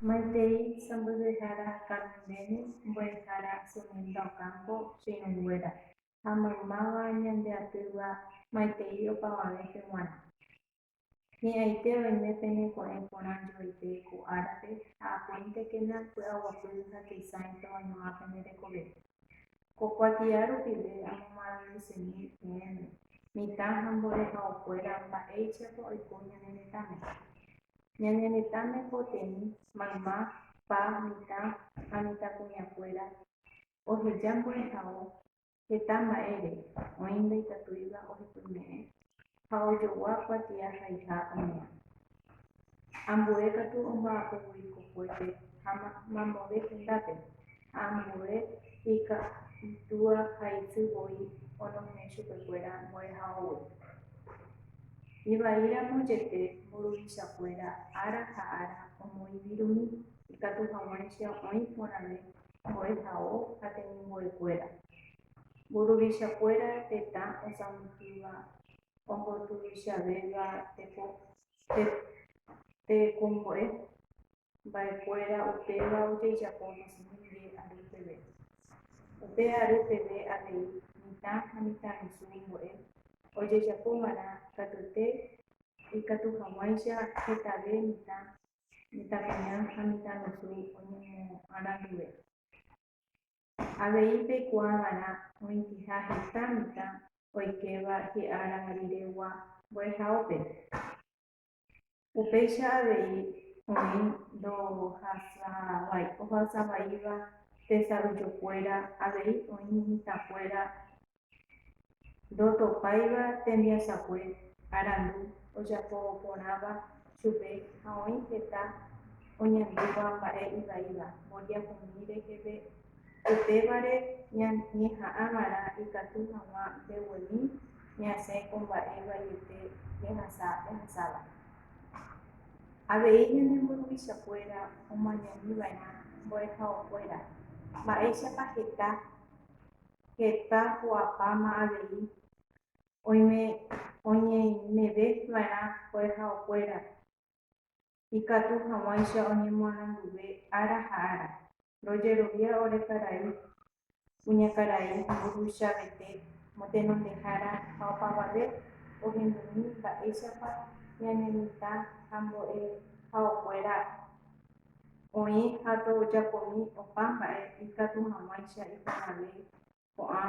Maitei sãmbyhyhára Carmeni mbo'ehára Sumilda Ocampo chiñunguéra ha maymáva ñande atýva maitei opavave pe g̃uarã. Hi'ãite oime pene ko'ẽ porã joaite ko árape ha apuéntekena py'aguapy ha teisãita oĩva pene rekove. Ko kuatia rupive amomaranduseñéi peẽme, mitã ha mborehaokuéra mba'éichapa oiko ñane retãme. Ñane retãme poteĩ mayma, pa, mitã ha mitãkuñakuéra oheja mborehao heta mba'ére, oĩ ndaikatúiva ohepyme'ẽ. ha ojogua kuatia haiha ome'ẽ. Ambue katu omba'apo voi kokuépe ha mamove hendápe, ha ambue ikatúa ha isy voi onohẽ chupekuéra mbo'ehaógui. Ivaíramo jepe mburuvichakuéra ára ha ára omoĩvirũmi ikatu hag̃uáicha oĩ porãve mbo'ehao ha temimbo'ekuéra, Mburuvichakuéra tetã osãmbyhýva ombotuvichavéva tekombo'e mba'ekuéra upéva ojejapo Ñesemíngue ary peve. Upe ary peve avei mitã ha mitãrusu mbo'e ojejapo g̃uarã katuete ikatu hag̃uáicha hetave mitã, mitãkuña ha mitãrusu oñemoarandúve. Avei peikuaa va'erã oĩtiha heta mitã oikéva hi'ára riregua mbo'ehaópe. Upéicha avei oĩ ndohasavaíva tesayjokuéra, avei oĩ mitãkuéra ndotopáiva tembiasakue arandu ojapo porãva chupe ha oĩ heta oñandúva mba'e ivaíva mboriahumi reheve, upévare ñeha'ã va'erã ikatu hag̃ua mbeguemi ñasẽ ko mba'e vaiete jehasa jahasáva. Avei ñane mburuvichakuéra omañami va'erã mbo'ehaokuéra, mba'éichapa heta heta ho'apáma avei oime oñeimeve va'erã ohejaokuéra ikatu hag̃uáicha oñemoaranduve ára ha ára. Rojerovia ore karai, kuñakarai, mburuvichapete, motenondehára ha opavave ohendumi mba'éichapa ñanemitã ha mbo'ehaokuéra oĩ ha tojapomi opa mba'e ikatu hag̃uáicha iporãvéi ko'ã